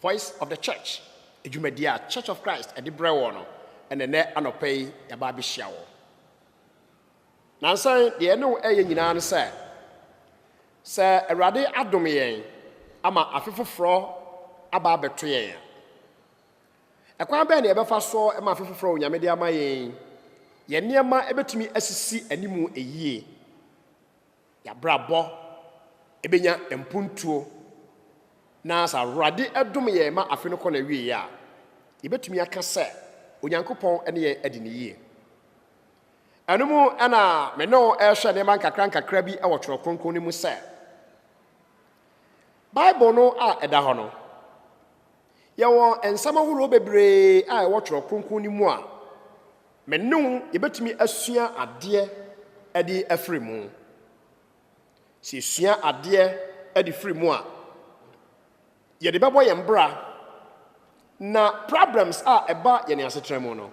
Voice of the Church, dwumadi a Church of Christ de brɛ wɔ no na ɛnɛ anɔpa yi yɛaba abɛhyia wɔ. Nansa yi, deɛ yɛne wo ɛyɛ nyinaa ne sɛ, sɛ Awurade adom yɛn ama afe foforɔ aba abɛto yɛn a, ɛkwan bɛn na yɛbɛfa so ma afe foforɔ a Onyame de ama yɛn yi, yɛn nneɛma bɛtumi asisi anim yie. Y'abrabɔ bɛnya mpuntuo. Na sɛ Awurade dom yɛn ma afe no kɔ n'awieɛ a, yɛbɛtumi aka sɛ Onyankopɔn ne yɛn adi no yie. Ɛno mu na me ne wo rehwɛ nneɛma nkakra nkakra bi wɔ Twerɛ Kronkron no mu sɛ, Bible no a ɛda hɔ no, Yɛwɔ nsɛm ahorow bebree a ɛwɔ Twerɛ Kronkron no mu a me ne wo yɛbɛtumi asua adeɛ de afiri mu. Sɛ yɛsua adeɛ de firi mu a, yɛde bɛbɔ yɛn bra na problems a ɛba yɛn asetena mu no,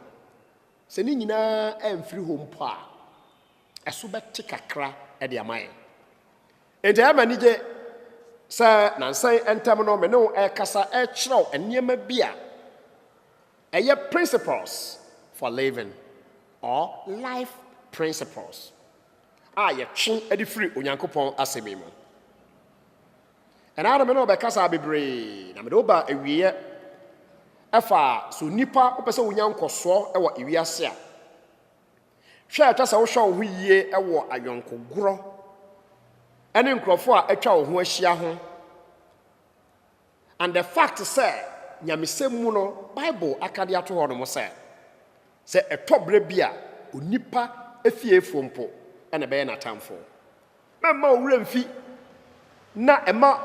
sɛ ne nyinaa amfiri hɔ mpo a, ɛso bɛte kakra de ama yɛn. Enti ɛyɛ me anigye sɛ nnansa yi ntam no me ne wo rekasa rekyerɛw nneɛma bi a ɛyɛ principles for living or life principles a yɛtwe de firi Onyankopɔn asɛm yi mu. Ɛnaa no me ne wo bɛkasa bebree na mede wo ba awieɛ ɛfa so nipa wopɛ sɛ wonya nkɔsoɔ wɔ wiase a Hwɛ a ɛtwa sɛ wohwɛ wo ho yie wɔ ayɔnkogorɔ ne nkurɔfoɔ a atwa wo ho ahyia ho. And the fact sɛ nyamesɛm mu no Bible aka de ato hɔ nom sɛ, sɛ ɛtɔ berɛ bi a onipa fiefoɔ mpo na ɛbɛyɛ n'atamfoɔ. Mɛmma wo werɛ mfi na mma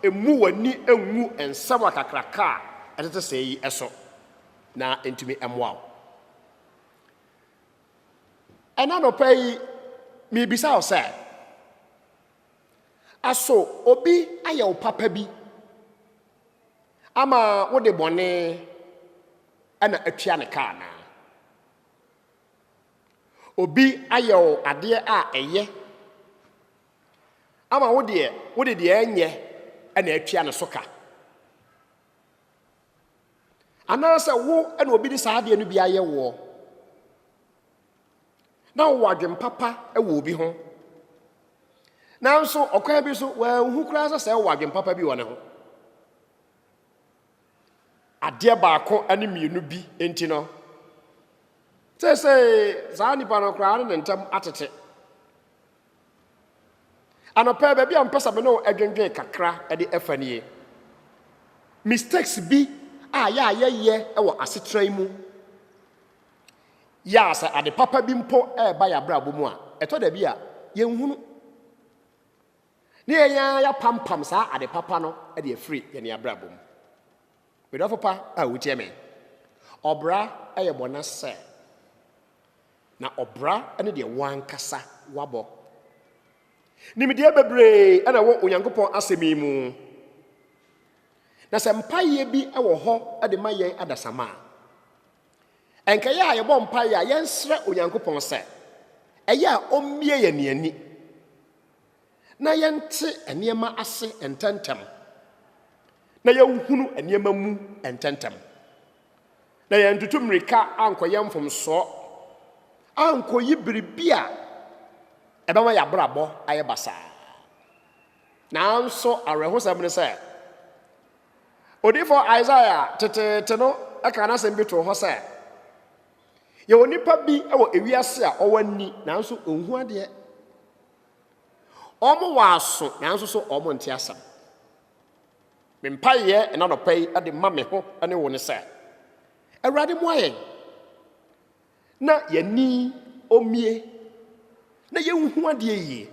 mmu w'ani ngu nsɛm akakraka a ɛtete sɛɛ yi so na ɛntumi mmoa wo. Ɛna nɔpa yi, mebisa wo sɛ, aso obi ayɛ wo papa bi ama wode bɔne ɛna atua ne ka anaa? Obi ayɛ wo adeɛ a ɛyɛ ama wo deɛ wode deɛ ɛnyɛ ɛna atua ne so ka. Anaasɛ wo na obi de saa adeɛ no bi ayɛ woɔ, na wowɔ adwen papa wɔ obi ho, nanso ɔkwan bi so wɔanhu koraa sɛ sɛ wowɔ adwen papa bi wɔ ne ho. Adeɛ baako ne mmienu bi nti no, sɛ sɛ saa nipa no koraa ne ne ntam atete. Anɔpa yi, baabi a mepɛ sɛ me ne wo dwendwen kakra de ɛfa nie. Mistakes bi a yɛ a yɛyɛ wɔ asetena yi mu, yɛ a sɛ ade papa bi mpo ɛreba yɛ abrabɔ mu a, ɛtɔ da bi a yɛnhunu. Ne yɛn ara yɛapampam saa ade papa no de afiri yɛn abrabɔ mu. Medɔfo pa a wotie me, ɔbra yɛ bɔne sɛ Na ɔbra ne deɛ w'ankasa wabɔ. Nimdeɛ bebree na ɛwɔ Onyankopɔn asɛm yi mu. Na sɛ mpaeɛ bi wɔ hɔ de ma yɛn adasamma a, ɛnkɛyɛ a yɛbɔ mpaeɛ a yɛnsrɛ Onyankopɔn sɛ ɛyɛ a ɔmmie yɛn ani na yɛnte nneɛma ase ntɛntɛm na yɛnhunu nneɛma mu ntɛntɛm. na yɛantutu mmirika ankɔyɛ mfomsoɔ, ankɔyi biribi a ɛbɛma yɛn abrabɔ ayɛ basaa. Nanso awerɛhosɛm ne sɛ, odiyifoɔ Isaiah teteete no kaa n'asɛm bi too hɔ sɛ, Yɛwɔ nnipa bi wɔ ewiase a wɔwɔ ani nanso wɔnhu adeɛ, wɔwɔ aso nanso so wɔnte asɛm. Me mpaeɛ ɛna nɔpa yi de ma me ho ne wo ne sɛ, Awurade moa yɛn na yɛni ɔmie na yɛnhu adeɛ yie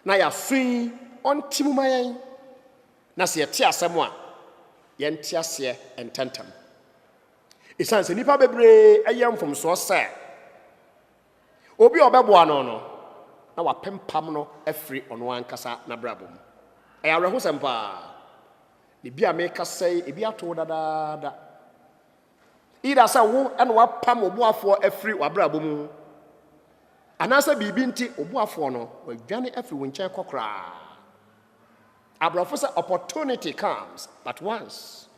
na yɛaso yi ɔnte mu ma yɛn na sɛ yɛte asɛm a yɛnte aseɛ ntɛntɛm. Ɛsiane sɛ nnipa bebree ɛyɛ mfomsoɔ sɛ Obi a ɔbɛboa no no, na wapempam no afiri ɔno ankasa n'abrabɔ mu. Ɛyɛ awerɛhosɛm paa, na ebi a merekasa yi, ebi ato wo dadaada. Either sɛ wo na wapam ɔboafoɔ afiri w'abrabɔ mu, anaasɛ biribi nti ɔboafoɔ no wadwane afiri wo nkyɛn kɔ koraa. Aborɔfo sɛ opportunity comes but once.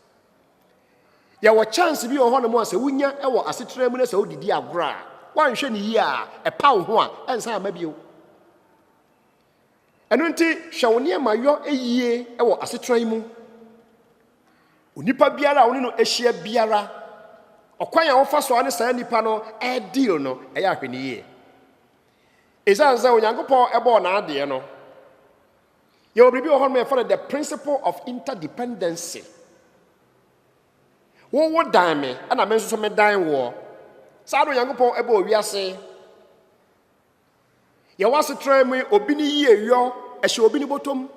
Yɛwɔ chance bi wɔ hɔnom a sɛ wonya wɔ asetena mu na sɛ wode di agorɔ a, woanhwɛ no yie a, ɛpa wo ho a, ɛnsan mma bio. Ɛno nti, hwɛ wo nneɛma yɔ yie wɔ asetena yi mu. Onipa biara a wo ne no ahyia biara, ɔkwan a wofa so a ne saa nipa no ɛredeal no, ɛyɛ ahwɛ no yie. Ɛsiane sɛ Onyankopɔn bɔɔ n'adeɛ no, Yɛwɔ biribi wɔ hɔ nom yɛfrɛ no the principle of interdependency. Wo wo dan me, ɛna me nso so me dan woɔ. Saa na Onyankopɔn ɛbɔ owiase. Yɛwɔ asetra mu obi ne yie yɔ ɛhyɛ obi ne bɔtɔm.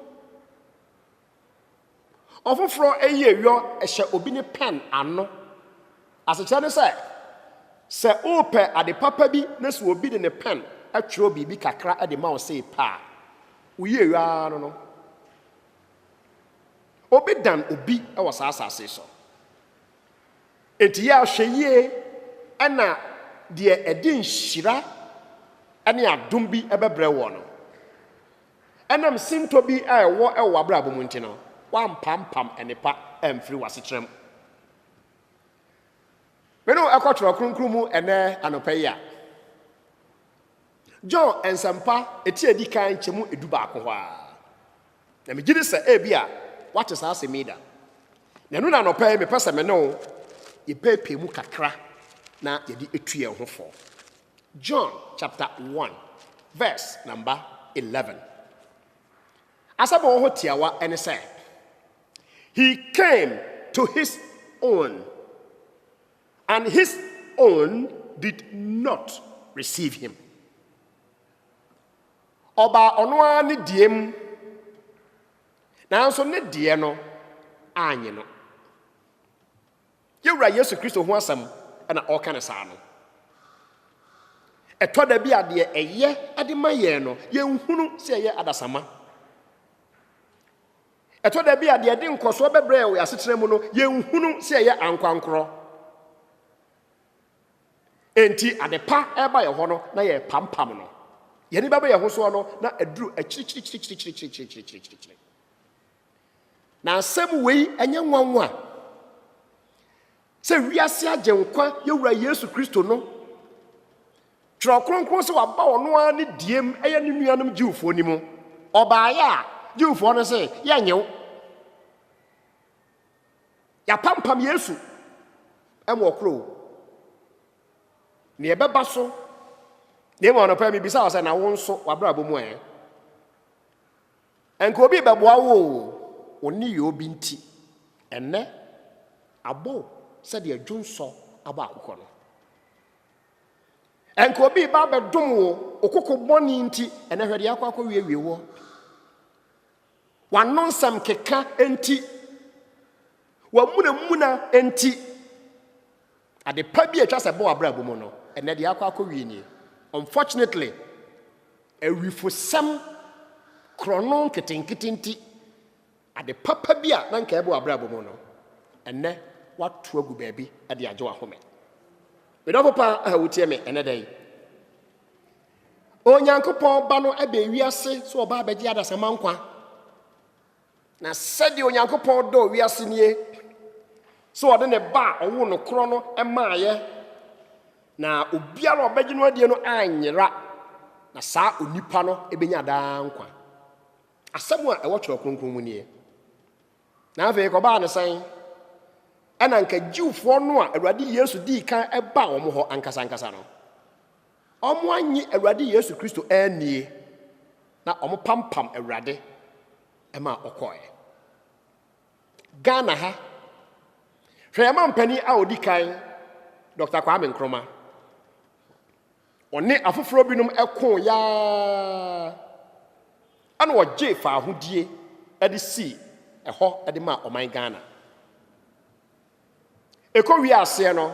Ɔfoforɔ ayi ayɔ hyɛ obi ne pɛn ano. Asekyerɛ ne sɛ, sɛ worepɛ ade papa bi na sɛ obi de ne pɛn twerɛ biribi kakra de ma wo sɛ pɛ a, woyi ayɔ ara no no. Obi dan obi wɔ saa asase yi so. Enti yɛ ahwɛyie na deɛ ɛde nhyira ne adom bi bɛbrɛ woɔ no. Ɛnam sintɔ bi a ɛwɔ wɔ w'abrabɔ mu nti no, woampampam nnepa amfiri w'asetra mu. Me ne wo ɛkɔ Twerɛ Kronkron mu ɛnnɛ anɔpa yi a, John Nsɛmpa ɛti a ɛdi kan nkyɛmu ɛdu baako hɔ ara. Na megye di sɛ ɛbi a woate saa asɛm yi da. Na ɛno na anɔpa yi mepɛ sɛ me ne wo yɛpɛɛpɛɛ mu kakra na yɛde ɛtu yɛn ho fɔ. John chapter 1 verse number 11. Asɛm a wɔwɔ tiawa ɛne sɛ, He came to his own, and his own did not receive him. Ɔbaa ɔno ara ne deɛ mu, nanso ne deɛ no anyɛ no. Yɛn Wura Yesu Kristo ho asɛm na ɔreka no saa no. Ɛtɔ da bi a deɛ ɛyɛ de ma yɛn no, yɛnhunu sɛ ɛyɛ adasamma. Ɛtɔ da bi a deɛ ɛde nkɔsoɔ bɛbrɛ yɛn wɔ asetena mu no, yɛnhunu sɛ ɛyɛ ankorankorɔ. Enti ade pa ɛreba yɛn hɔ no, na yɛrepampam no. Yɛn ani bɛbɔ yɛn ho soɔ no, na aduru akyirikyirikyirikyirikyirikyirikyirikyiri. Na asɛm wei ɛnyɛ nwanwa sɛ wiase agyenkwa yɛwura Yesu Kristo no twerɛ kronkron sɛ waba ɔno ara ne diem ɛyɛ ne nuanom Jewfoɔ no mu ɔbaeɛ a Jewfoɔ no sɛ yɛnyɛ wo yɛapampam Yesu ɛmu ɔkorɔ ne ɛbɛba so na ɛmu anɔpɛ mebisa wɔ sɛ na wo nso wabrabɔ mu ɛɛ Anka obi rebɛboa wo oo, wo nneyɔɔ bi nti, ɛnnɛ abɔ wo sɛdeɛ dwonsɔ abɔ akokɔ no. Anka obi reba abɛdom wo, wo koko bɔne nti, ɛnnɛ hwɛ deɛ akɔ akɔwiewie woɔ. W'ano nsɛm keka nti, w'amunamuna nti, Ade pa bi a etwa sɛ ɛbɔ w'abrabɔ mu no, ɛnnɛ deɛ akɔ akɔwie nie. Unfortunately, awifosɛm korɔno nketenkete nti, ade papa bi a na anka ɛbɔ w'abrabɔ mu no, ɛnnɛ woato agu baabi de agye w'ahome. Me dɔfo pa a wotie me ɛnnɛ da yi, Onyankopɔn Ba no baa wiase sɛ ɔbaa bɛgye adasamma nkwa. Na sɛdeɛ Onyankopɔn dɔɔ wiase nie, sɛ ɔde ne Ba a ɔwoo no korɔ no maaeɛ, na obiara a ɔbɛgye no adie no anyera, na saa onipa no bɛnya daa nkwa. Asɛm a ɛwɔ Twerɛ Kronkron mu nie. Na afei kɔbaa no sɛn? Ɛna anka Jewfoɔ no a Awurade Yesu dii kan baa wɔn hɔ ankasa ankasa no, Wɔannye Awurade Yesu Kristo annie, na wɔpampam Awurade ma ɔkɔeɛ. Ghana ha, hwɛ yɛn mampanin a ɔdi kan, Dɔkta Kwame Nkrumah. Ɔne afoforɔ binom ko yaa ɛna ɔgye faahodie de sii ɛhɔ de maa ɔman Ghana. Ɛkɔwiee aseɛ no,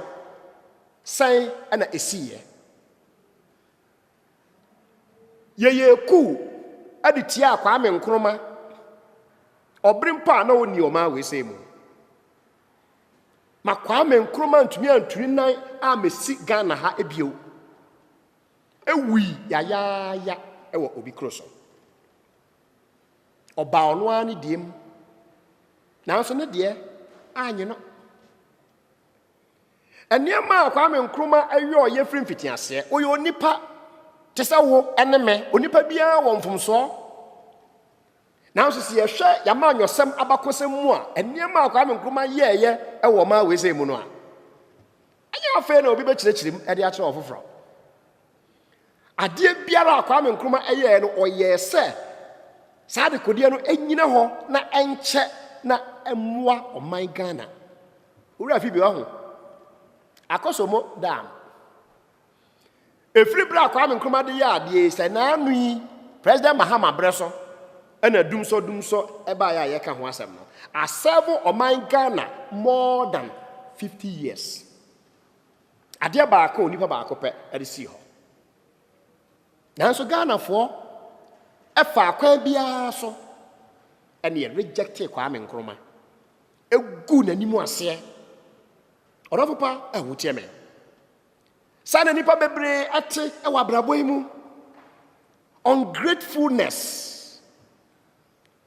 sɛn na ɛsiiɛ? Yɛyɛɛ kuu de tiaa Kwame Nkrumah ɔbere mpo a na ɔnni ɔman wei sɛi mu. Ma Kwame Nkrumah ntumi anturi nan a mɛsi Ghana ha bio. Ɛwui yayaaya wɔ Obi Kuro so. Ɔbaa ɔno ara ne deɛ mu. Nanso ne deɛ anyɛ no. Nneɛma a Kwame Nkrumah ɛyɛ ɔyɛ firi mfitiaseɛ. Ɔyɛ onipa te sɛ wo ne me. Onipa biara wɔ mfomsoɔ. Nanso sɛ yɛhwɛ yɛama anyɔsɛm abakɔsɛm mu a, nneɛma a Kwame Nkrumah yɛɛyɛ wɔ ɔman wei sɛ mu no a, ɛnyɛ afei na obi bɛkyerɛkyerɛ mu de akyerɛ ɔfoforɔ. Adeɛ biara a Kwame Nkrumah yɛɛ no, ɔyɛɛ sɛ saa adekodeɛ no nyina hɔ na ɛnkyɛ na ɛmmoa ɔman Ghana. Owura Phoebe wahu. Akosombo Dam. Ɛfiri berɛ a Kwame Nkrumah de yɛ adeɛ yi sɛ naanu yi President Mahama berɛ so ɛna dumsɔ dumsɔ ɛbaeɛ a yɛka ho asɛm no, asɛvo ɔman Ghana more than 50 years. Adeɛ baako a onipa baako pɛ de sii hɔ. Nanso Ghanafoɔ ɛfa akwan biara so ɛne ɛrejɛkte Kwame Nkrumah. Ɛgu n'anim aseɛ. Ɔdɔfo pa a wotie me. Saa na nipa bebree ɛte ɛwɔ abrabɔ yi mu. Ungratefulness.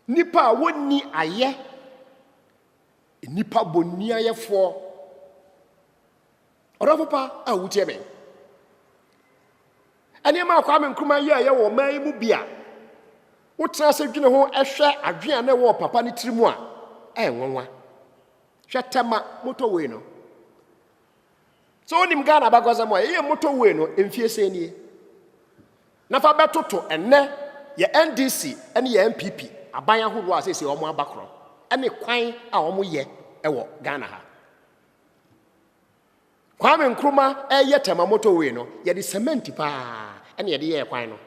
Nipa a wɔnni ayɛ. Nnipa boniayɛfoɔ. Ɔdɔfo pa a wotie me. Nneɛma a Kwame Nkrumah yɛ a ɛyɛ wɔ man yi mu bi a wotena ase dwene ho hwɛ adwene a na ɛwɔ papa ne tiri mu a ɛyɛ nwanwa. Hwɛ tɛma motorway no. Sɛ wonim Ghana abakɔsɛm a ɛyɛ motorway no mfie sɛ nie. Na fa bɛtoto ɛnnɛ yɛn NDC ne yɛn NPP aban ahoroɔ a seesei wɔn aba korɔ ne kwan a wɔn yɛ wɔ Ghana ha. Kwame Nkrumah ɛreyɛ Tema motorway no, yɛde cement paa ɛna yɛde yɛɛ kwan no.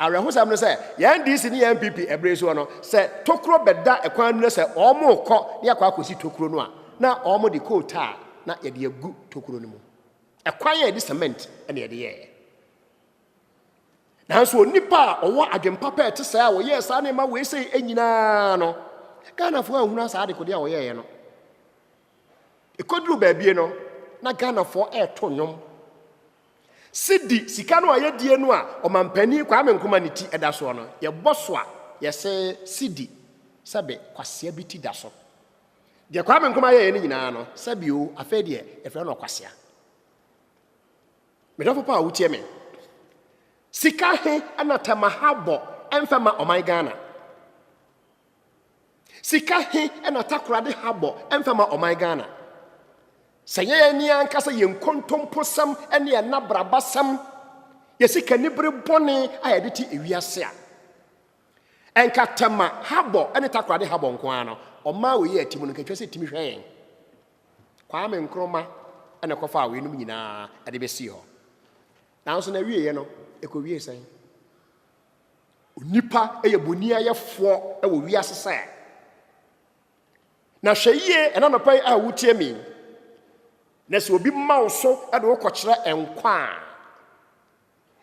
Awerɛhosɛm no sɛ, yɛn NDC ne yɛn NPP ɛberɛ soɔ no, sɛ tokuro bɛda kwan no mu na sɛ wɔn rekɔ na yɛakɔ akɔsi tokuro no a, na wɔn de coal tar na yɛde agu tokuro no mu. Ɛkwan a yɛde cement na yɛde yɛɛ. Nanso onipa a ɔwɔ adwempa pɛ te sɛ a wɔyɛɛ saa ne ma wei sɛ nyinaa no, Ghanafoɔ anhunu asaa adekodeɛ a wɔyɛeɛ no. Ɛkɔduru baabie no, na Ghanafoɔ ɛreto nnwom. Sidi sika no a yɛdie no a ɔmampanin Kwame Nkrumah ne ti ɛda soɔ no, yɛbɔ so a yɛsɛ sidi sɛbe kwasea bi ti da so. Deɛ Kwame Nkrumah yɛeɛ no nyinaa no, sɛbio afei deɛ yɛfrɛ no ɔkwasea. Medɔfo pa a wotie me, sika he na Tɛmaha bɔ ɛmfa ma ɔman Ghana? Sika he na Takora de ha bɔ ɛmfa ma ɔman Ghana? Sɛ yɛn ani ankasa yɛn nkontomposɛm ne yɛn nabrabasɛm, yɛ sika nibere bɔne a yɛde te ewiase a, Ɛnka tɛma habɔ ne takoradi habɔ nko ara no, ɔmaa wei yɛɛ ti mu no, nka ɛtwa sɛ tumi hwɛ yɛn. Kwame Nkrumah na ɛkɔfaa weinom nyinaa de bɛsii hɔ. Nanso na awieeɛ no, ɛkɔwiee sɛn? Onipa yɛ boniayɛfoɔ wɔ wiase sɛ. Na hwɛ yie ɛna nɔpa yi a wotie me na sɛ obi ma wo so de wokɔkyerɛ nkwa a,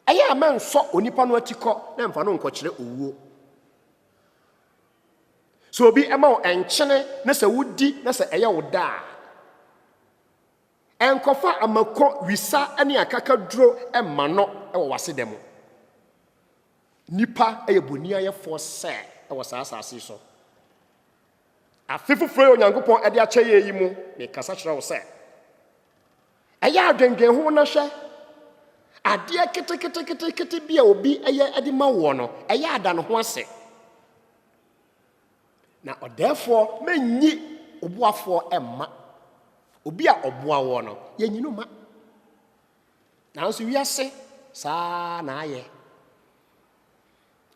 Ɛyɛ a mɛnsɔ onipa no atikɔ na mfa no nkɔkyerɛ owuo. Sɛ obi ma wo nkyene na sɛ wodi na sɛ ɛyɛ wo dɛ a, ɛnkɔfa amako, wisa ne akakaduro mma no wɔ w'aseda mu. Nipa yɛ boniayɛfoɔ sɛ wɔ saa asase so. Afe foforo yi a Onyankopɔn de akyɛ yɛn yi mu, mekasa kyerɛ wo sɛ, ɛyɛ adwendwen ho na hwɛ. Adeɛ keteketekete bi a obi yɛ de ma woɔ no, ɛyɛ ada ne ho ase. Na ɔdɛɛfoɔ mɛnyi ɔboafoɔ mma. Obi a ɔboa woɔ no, yɛnyi no ma. Nanso wiase saa na ayɛ.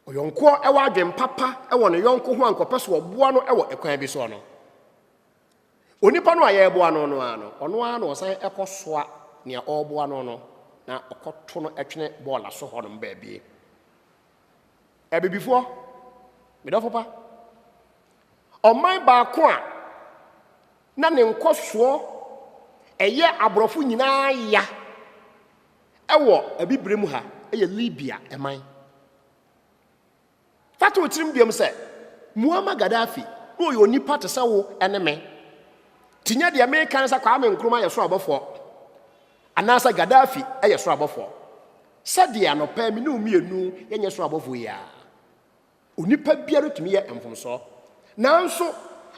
Ɔyɔnko a ɔwɔ adwene papa wɔ ne yɔnko ho a nka ɔpɛ sɛ ɔboa no wɔ kwan bi so no, onipa no a yɛreboa no no ara no, ɔno ara na ɔsan kɔsoa nea ɔreboa no no na ɔkɔto no twene bɔɔla so hɔnom baabi. Abibifoɔ, me dɔfo pa, ɔman baako a na ne nkɔsoɔ ɛyɛ aborɔfo nyinaa ya Ɛwɔ Abibire mu ha yɛ Libya man. Fa to wo tirim biom sɛ, Muammar Gaddafi na ɔyɛ onipa te sɛ wo ne me. Nti nyɛ deɛ meka ne sɛ Kwame Nkrumah yɛ soro abɔfoɔ, anaasɛ Gaddafi yɛ soro abɔfoɔ. Sɛdeɛ anɔpa yi me ne wo mmienu yɛnyɛ soro abɔfoɔ yi ara. Onipa biara tumi yɛ mfomsoɔ. Nanso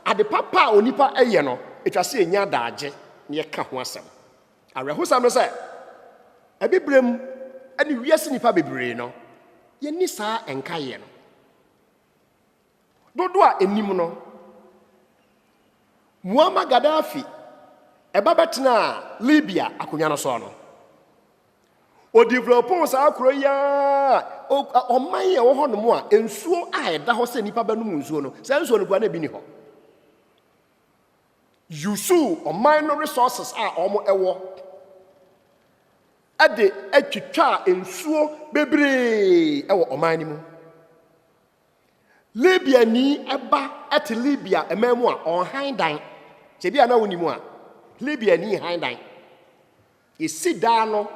ade papa a onipa yɛ no, ɛtwa sɛ yɛnya daagye na yɛka ho asɛm. Awerɛhosɛm ne sɛ, Abibirem ne wiase nnipa bebree no, yɛnni saa nkaeɛ no. Dodoɔ a ɛnim no, Muammar Gaddafi ba bɛtenaa Libya akonnwa no soɔ no, ɔdevelopoo saa kuro yi ara ɔman yɛ wɔ hɔnom a nsuo a ɛda hɔ sɛ nnipa bɛnom nsuo no saa nsuo no kura na ebi ni hɔ yusu ɔman no resources a wɔn ɛwɔ ɛde atwitwa nsuo bebree ɛwɔ ɔman no mu libya ni ɛba ɛte libya ɛman mu a ɔnhan dan sɛ bi a na wɔn ni mu a libya ni han dan Yɛsi daa no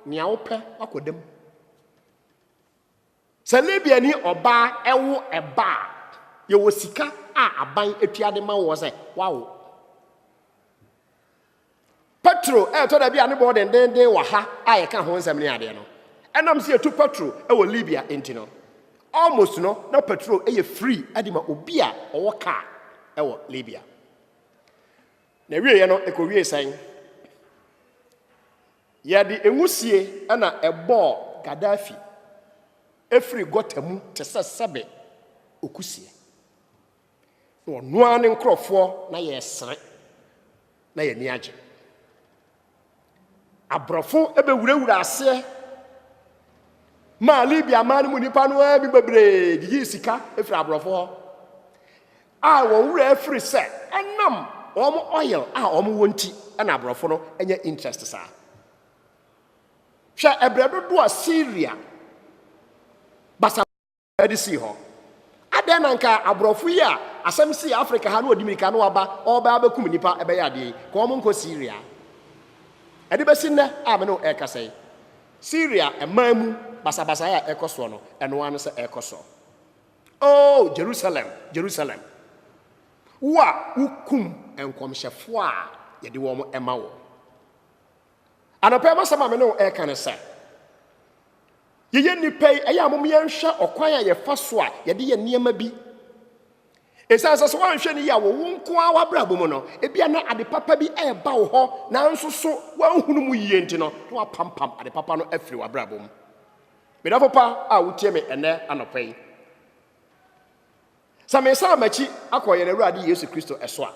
nea wopɛ wakɔda mu. Sɛ Libiani ɔbaa wo ɛba a, yɛwɔ sika a aban atua de ma wɔ sɛ wawo. Petro ɛtɔ da bi a ne bɔɔ dendenden wɔ ha a yɛka ho nsɛm ne adeɛ no. Ɛnam sɛ yɛtu petro wɔ Libya nti no, almost no na petro yɛ free de ma obi a ɔwɔ kaa wɔ Libya. Na ɛwieeɛ no, ɛkɔwiee sɛn? Yɛde nwusie na ɛbɔɔ Gaddafi firi gɔta mu te sɛ sɛbe okusie. Na ɔno ara ne nkurɔfoɔ na yɛresere na yɛn ani agye. Aborɔfo bɛwurawura aseɛ maa Libya man no mu nnipa no ara bi bebree gyigye sika firi aborɔfo hɔ a wɔn wura afiri sɛ ɛnam wɔn oil a wɔn wɔ nti na aborɔfo no nyɛ interest saa hwɛ ɛbrɛ dodoɔ a Syria basa de sii hɔ. Adɛn na anka aborɔfo yi a asɛm sii Afrika ha na wɔde mmirika na wɔaba wɔrebɛba abɛkum nnipa bɛyɛ adeɛ yi? Ka wɔn nkɔ Syria. Ɛde bɛsi nnɛ a me ne wo ɛrekasa yi, Syria mmaa mu basabasayɛ a ɛrekɔ soɔ no, ɛno ara ne sɛ ɛrekɔ so. Oh, Jerusalem, Jerusalem, wo a wokum nkɔmhyɛfoɔ a yɛde wɔn ma wo. Anɔpa yi m'asɛm a me ne wo ɛreka ne sɛ, yɛyɛ nnipa yi, ɛyɛ a mom yɛnhwɛ ɔkwan a yɛfa so a yɛde yɛ nneɛma bi. Ɛsiane sɛ sɛ woanhwɛ no yie a wɔwo nko ara w'abrabɔ mu no, ebia na ade papa bi ɛreba wo hɔ nanso so woanhunu mu yie nti no, na wapampam ade papa no afiri w'abrabɔ mu. Medafo pa a wotie me ɛnɛ anɔpa yi, Sɛ mesan m'akyi akɔ yɛn Awurade Yesu Kristo so a,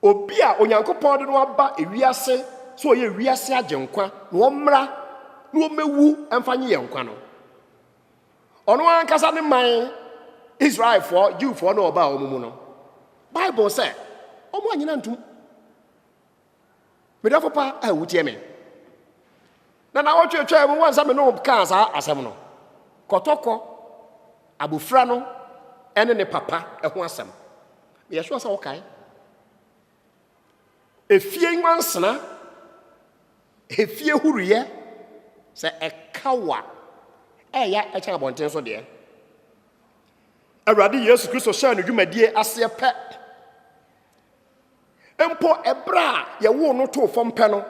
obi a Onyankopɔn de no aba wiase sɛ ɔyɛ wiase agyenkwa na ɔmmra na ɔmmɛwu mfa nye yɛn nkwa no, ɔno ankasa ne man Israelfoɔ, Jewfoɔ na ɔbaa wɔn mu no. Bible sɛ, wɔn anyina ntom. Me dɔfo pa a wutie me. Na na ɔtwetwaa mu wɔn sɛ me ne wɔn kaa saa asɛm no. Kɔtɔkɔ, abofra no ne ne papa ho asɛm. Meyɛ sure sɛ wokae. Efie nwansena, efie huruyɛ, sɛ ɛka wo a, ɛyɛ ɛkyɛn abɔnten so deɛ. Awurade Yesu Kristo hyɛɛ no dwumadie aseɛ pɛ. Mpo ɛberɛ a yɛwoo no too fam pɛ no,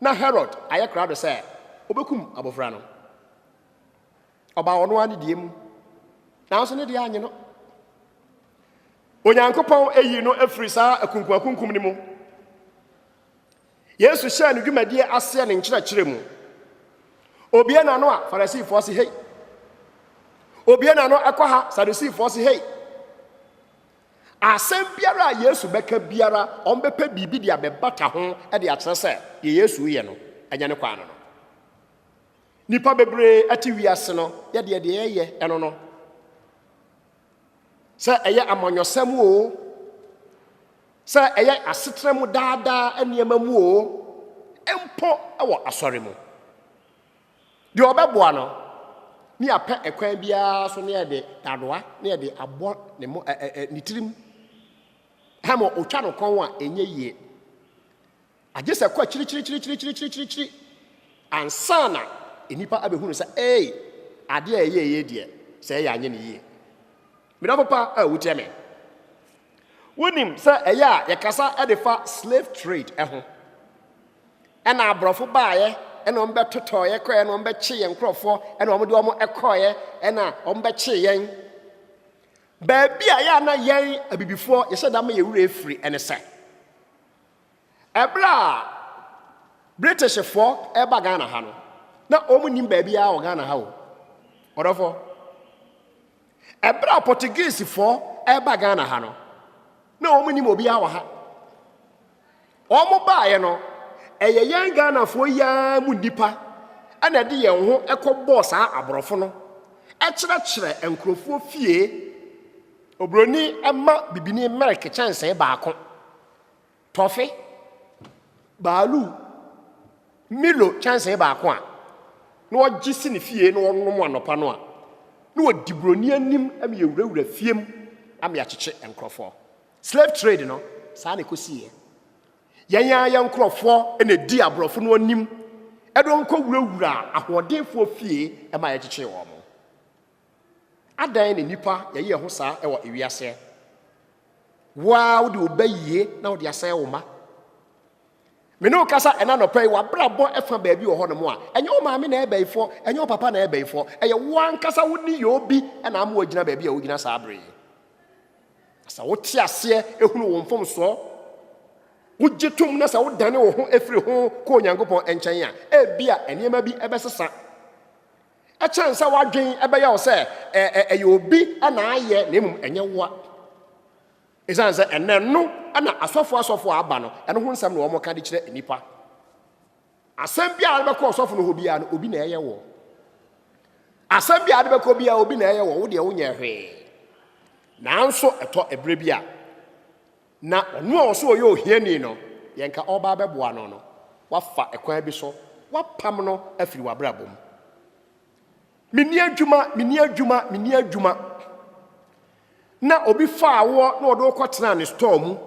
na Herod ayɛ krado sɛ ɔbɛkum abɔfra no. Ɔbaa ɔno ara ne deɛ mu, nanso ne deɛ anye no. Onyankopɔn ayi no afiri saa akunkumakunkum no mu. Yesu hyɛɛ ne dwumadie aseɛ ne nkyerɛkyerɛ mu. Obie n'ano a, Farisifoɔ se hei. Obie n'ano ɛkɔ ha, Sadusifoɔ se hei. Asɛm biara a Yesu bɛka biara, wɔbɛpɛ biribi de abɛbata ho de akyerɛ sɛ deɛ Yesu reyɛ no, ɛnyɛ ne kwan no no. Nnipa bebree te wiase no yɛ deɛ deɛ ɛyɛ ɛno no. Sɛ ɛyɛ amanyɔsɛm o, sɛ ɛyɛ asetena mu daadaa nneɛma mu o, mpo wɔ asɔre mu. Deɛ ɔbɛboa no, ne yɛapɛ ɛkwan biara so ne yɛde dadoa ne yɛde abɔ ne mo ɛ ɛ ɛ ne tirim. Hɛmɔ ɔtwa no kɔn a ɛnyɛ yie. Agye sɛ kɔ akyirikyirikyirikyirikyirikyiri ansa na nnipa abɛhunu sɛ ee adeɛ a ɛyɛ yie deɛ sɛ ɛyɛ anyɛ ne yie. Me dɔfo pa a wutie me. Wunim sɛ ɛyɛ a yɛkasa de fa slave trade ho. Ɛna aborɔfo baeɛ ɛna wɔn bɛtotɔeɛ kɔeɛ na wɔn bɛkye yɛn nkurɔfoɔ ɛna wɔn de wɔn kɔeɛ ɛna wɔn bɛkye yɛn. Baabi a yɛ a na yɛn abibifoɔ yɛhyɛ da ma yɛ wura efiri ɛne sɛ ɛberɛ a Britishfoɔ ɛba Ghana ha no na wɔn nim baabi a wɔ Ghana ha o ɔdɔfoɔ. Ɛberɛ a Portuguesefoɔ ɛreba Ghana ha no, na wɔn nim obiara wɔ ha. Wɔn baeɛ no, ɛyɛ yɛn Ghanafoɔ yi ara mu nnipa ɛna ɛde yɛn ho ɛkɔbɔɔ saa aborɔfo no ɛkyerɛkyerɛ nkurɔfoɔ fie. Oburoni ɛma bibini milk kyɛnsee baako. Tɔfe, baaluu, Milo kyɛnsee baako a na ɔgye si ne fie na ɔnom anɔpa no a na ɔdi buroni anim ma yɛwurawura fie mu ama yɛakyekye nkurɔfoɔ. Slave trade no, saa na ɛkɔsiiɛ. Yɛn ara yɛn nkurɔfoɔ na ɛdi aborɔfo no anim de wɔn kɔwurawuraa ahoɔdenfoɔ fie ma yɛkyekyee wɔn. Adɛn na nnipa yɛ yɛn ho saa wɔ ewiase ɛ? Wo ara wode wo ba yie na wode asɛe wo mma. Me ne wo kasa ɛna nɔpɛ yi, w'abrabɔ ɛfa baabi wɔ hɔnom a, ɛnyɛ wo maame na ɛyɛ bayifoɔ, ɛnyɛ wo papa na ɛyɛ bayifoɔ, ɛyɛ wo ankasa wo nneyɔɔ bi na ama woagyina baabi a wogyina saa bere yi. Na sɛ wote aseɛ ehunu wo mfomsoɔ, wogye tom na sɛ wodane wo ho firi ho kɔ Onyankopɔn nkyɛn a, ebia nneɛma bi ɛbɛsesa. Ɛkyɛn sɛ w'adwene bɛyɛ wo sɛ ɛyɛ obi na ayɛ na mmom ɛnyɛ woa. Ɛsiane sɛ ɛnɛ no na asɔfo asɔfo a aba no, ɛno ho nsɛm na wɔka de kyerɛ nnipa. Asɛm biara a wobɛkɔ ɔsɔfo no hɔ biara no, obi na ɛyɛ wɔ. Asɛm biara de bɛkɔ biara, obi na ɛyɛ wɔ, wo deɛ wonyɛ hwee. Nanso ɛtɔ ɛberɛ bi a. Na ɔno a ɔse ɔyɛ ohiani no, yɛ nka ɔreba abɛboa no no, woafa kwan bi so, woapam no afiri w'abrabɔ mu. Menni adwuma, menni adwuma, menni adwuma. Na obi faa woɔ na ɔde wo kɔtenaa ne store mu.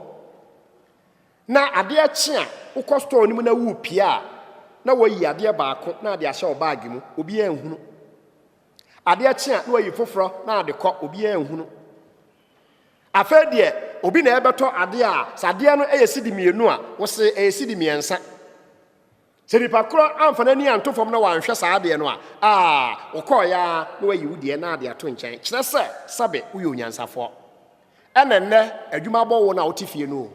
Na adeɛ kye a, wokɔ store no mu na worepia a, na wayi adeɛ baako na ade ahyɛ wo baage mu, obiara nhunu. Adeɛ kye a na wayi foforɔ na ade kɔ obiara nhunu. Afei deɛ obi na ɛbɛtɔ adeɛ a sɛ adeɛ no yɛ sidi mmienu a wose ɛyɛ sidi mmiɛnsa. Sɛ nipa korɔ amfa n'ani anto fam na wanhwɛ saa adeɛ no a aa wokɔɔ ya na wayi wo deɛ na ade ato nkyɛn kyerɛ sɛ sɛbe woyɛ onyansafoɔ. Ɛna nnɛ adwuma abɔ wo na wote fie no o.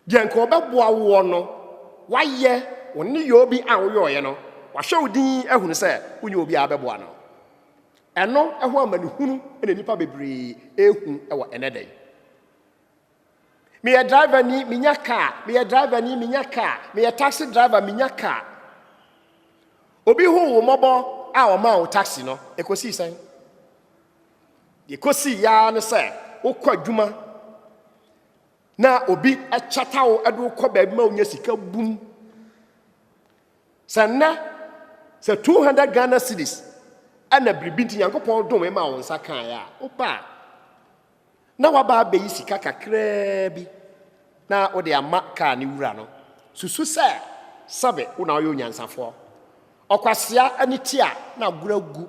Deɛ nka ɔbɛboa woɔ no, wayɛ, wo nneyɔɔ bi a woyɔeɛ no, wahwɛ wo din ahunu sɛ wonyɛ obi a wobɛboa no. Ɛno ho amanehunu na nnipa bebree ɛrehu wɔ ɛnɛ da yi. Meyɛ driver ni, menya kaa, meyɛ driver ni, menya kaa, meyɛ taxi driver, menya kaa. Obi ho wo mmɔbɔ a ɔmaa wo taxi no, ɛkɔsii sɛn? Deɛ ɛkɔsii yaa ne sɛ wokɔ adwuma na obi kyata wo de wo kɔ baabi ma wonya sika bum sɛ nnɛ sɛ 200 ghana cities ɛna biribi nti nyankopɔn dome ma wo nsa kaeɛ a woba a na waba abɛyi sika kakraa bi na wode ama kaa ne wura no susu sɛ sɛbe wo na woyɛ onyansafoɔ ɔkwasea ne ti a na agorɔ agu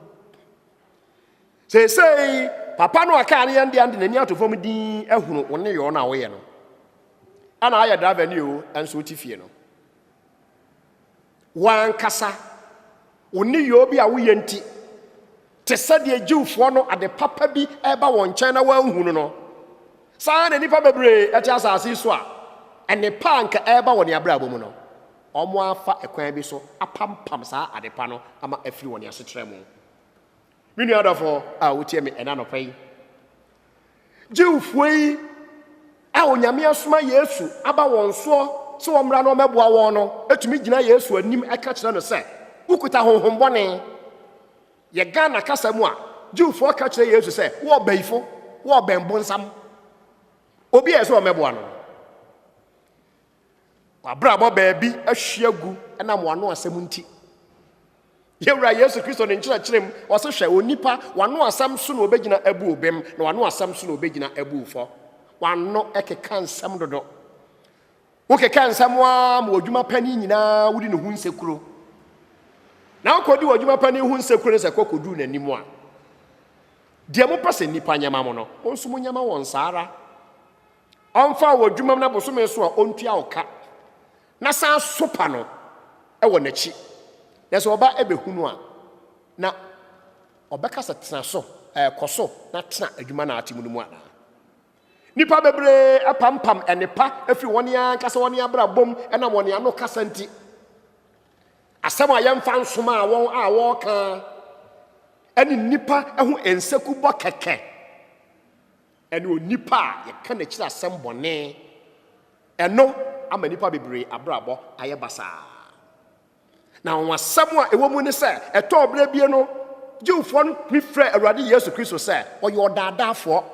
Seesei, papa no a kaa no yɛn dea de n'ani ato fam dinn ahunu wo nneyɔɔ no a woyɛ no. Ɛna ayɛ driver ni o, ɛnso wote fie no. Wankasa, wo nneyɔɔ bi a woyɛ nti, te sɛ deɛ Jewfoɔ no ade papa bi reba wɔn nkyɛn na wɔanhu no no, saa na nnipa bebree ɛte asase so a nnepa a nka ɛreba wɔn abrabɔ mu no, wɔafa ɛkwan bi so apampam saa adepa no ama afiri wɔn asetra mu. Me nua adɔfo a wotie me ɛna nɔpa yi, Jewfoɔ yi a Onyame asoma Yesu aba wɔn soɔ sɛ wɔmmra na wɔmmɛboa wɔn no tumi gyina Yesu anim ɛka kyerɛ no sɛ, wokuta honhom bɔne. Yɛ Ghana kasa mu a, Jewfoɔ ka kyerɛ Yesu sɛ, wo ɔbayifo, wo ɔbɛn bonsam. Obi a ɛsɛ wɔmmɛboa no. W'abrabɔ baabi ahwi agu ɛnam w'ano asɛm nti. Yɛwura Yesu Kristo ne nkyerɛkyerɛ mu, ɔse hwɛ onipa, w'ano asɛm so na obegyina abu obem, na w'ano asɛm so na obegyina abu fɔ. W'ano ɛkeka nsɛm dodo. Wokeka nsɛm a ma w'adwuma pa ne nyinaa wodi ne ho nsekuro. Na wokɔdi w'adwuma pa ne ho nsekuro ne sɛ kɔ kɔduru n'anim a. Deɛ mopɛ sɛ nnipa nyɛma mo no, mo nso mo nyɛma wɔn saa ara. ɔmfa wo wɔ adwumam na bosome so a ɔntua wo ka na san sopa no wɔ n'akyi na sɛ ɔba bɛhu no a na ɔbɛka sɛ tena so ɛɛ kɔ so na tena adwuma na ate mu no mu anaa nipa bebree apampam ɛnepa afiri wɔn ankasa wɔn abrabom ɛna wɔn ano kasa nti asɛm a yɛmfa nsoma a wɔn a wɔka ɛne nipa ɛho nsekubɔ kɛkɛ ne onipa a yɛka n'akyiri asɛm bɔne. Ɛno ama nnipa bebree abrabɔ ayɛ basaa. Na anwonwasɛm a ɛwɔ mu ne sɛ, ɛtɔɔ berɛ bie no, Jewfoɔ no tumi frɛ Awurade Yesu Kristo sɛ ɔyɛ ɔdaadaafoɔ.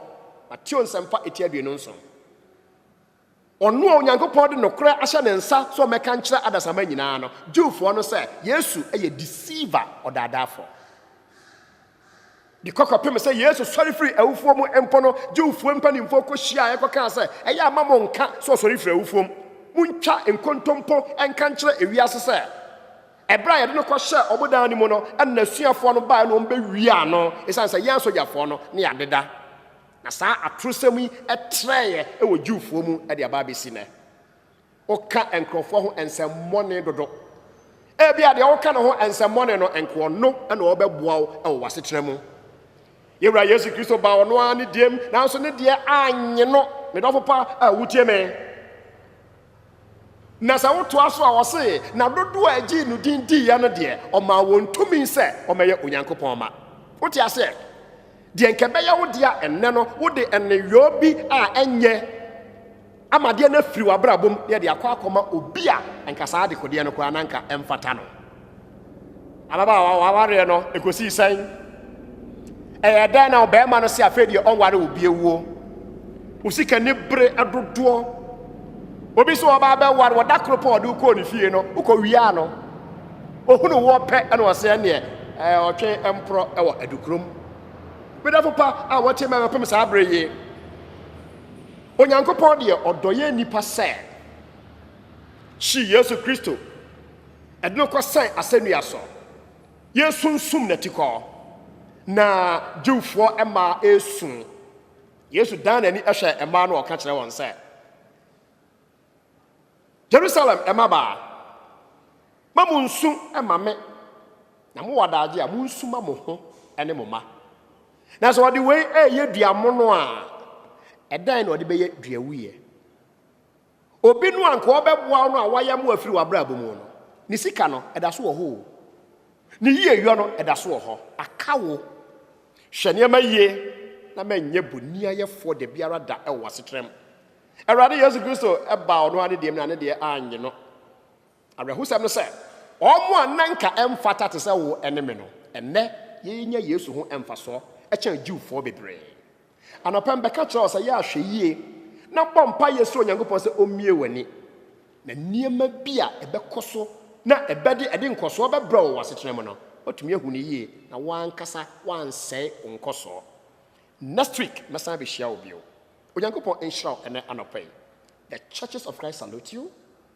Mateo Nsɛmpa etia aduonu nson. Ɔno a Onyankopɔn de nokorɛ ahyɛ ne nsa sɛ ɔmmɛka nkyerɛ adasamma nyinaa no, Jewfoɔ no, sɛ Yesu yɛ deceiver, ɔdaadaafoɔ. De kɔ kɔpem sɛ Yesu sɔre firi awufoɔ mu mpo no, Jewfoɔ mpanimfoɔ kɔhyiaaɛ kɔkaa sɛ, Ɛyɛ a ma monnka sɛ ɔsɔre firi awufoɔ mu. Montwa nkontompo nka nkyerɛ ewiase sɛ, Ɛberɛ a yɛde no kɔhyɛɛ wɔn dan no mu no, ɛna n'asuafoɔ no baeɛ na wɔbɛwiaa no, ɛsiane sɛ yɛn asogyafoɔ no ne adeda. Na saa atorosɛm yi trɛeɛ wɔ Jewfoɔ mu de aba abɛsi nnɛ. Woka nkurɔfoɔ ho nsɛmmɔne dodo. Ebia deɛ woka ne ho nsɛmmɔne no, nka ɔno na ɔbɛboa wo wɔ w'asetena mu. Yɛn Wura Yesu Kristo baa ɔno ara ne deɛm, nanso ne deɛ annye no. Me dɔfo pa a wotie me. Na sɛ wotoa so a, ɔse, Na dodoɔ a ɛgyee no din diiɛ no deɛ, ɔmaa wɔn tumi sɛ wɔmɛyɛ Onyankopɔn mma. Wote aseɛ? Deɛ nka ɛbɛyɛ wo dea ɛnnɛ no, wode nneyɔɔ bi a ɛnyɛ ama adeɛ no afiri w'abrabɔ mu na yɛde akɔ akɔma obi a nka saa adekodeɛ no koraa na nka ɛmfata no. Ababaawa, w'awareɛ no, ɛkɔsii sɛn? Ɛyɛ dɛn na ɔbarima no se afei deɛ ɔnware wo biawuo? Wo sika ni bere dodoɔ. Obi sɛ ɔbaa bɛware wɔda koro pɔ ɔde wokɔɔ ne fie no, wokɔ wiaa no. Ɔhunu woɔ pɛ ɛna ɔsɛ ɛneɛ ɔtwe mporɔ ɛwɔ adukurom. Medafo pa a wɔte mɛ bɛpem saa bere yi. Onyankopɔn deɛ ɔdɔ yɛ nnipa sɛ. Hyi Yesu Kristo. Ɛde no kɔsɛn asɛnnua so. Yɛresunsum n'atikɔ. Na Jewfoɔ mmaa resu. Yesu dan n'ani hwɛ mmaa no ɔka kyerɛ wɔn sɛ, Jerusalem mmabaa, ma mo nsu ma me, na mowɔ adagye a monsu ma mo ho ne mo mma. Na sɛ ɔde wei reyɛ dua mono a, ɛdɛn na ɔde bɛyɛ dua wuiɛ? Obi no a nka ɔbɛboa wo no a wayam wo afiri w'abrabɔ mu no, ne sika no, ɛda so wɔ hɔ o. Ne yieyɔ no, ɛda so wɔ hɔ. Aka wo. Hwɛ nneɛma yie na manyɛ bonniayɛfoɔ da biara da wɔ w'asetram. Awurade Yesu Kristo baa ɔno ara ne deɛ mu na ne deɛ annye no. Awerɛhosɛm ne sɛ, wɔn a na anka ɛmfata te sɛ wo ne me no, ɛnnɛ yenya Yesu ho mfasoɔ kyɛn Jewfoɔ bebree. Anɔpa yi mebɛka kyerɛ wo sɛ yɛ ahwɛyie na bɔ mpaeɛ srɛ Onyankopɔn sɛ ɔmmue w'ani na nneɛma bi a ɛbɛkɔ so na ɛbɛde ɛde nkɔsoɔ bɛbrɛ wo wɔ asetena mu no, woatumi ahu no yie na w'ankasa w'ansɛe wo nkɔsoɔ. Next week mɛsan abɛhyia wo bio. Onyankopɔn nhyira wo ɛnɛ anɔpa yi. The Churches of Christ salute you.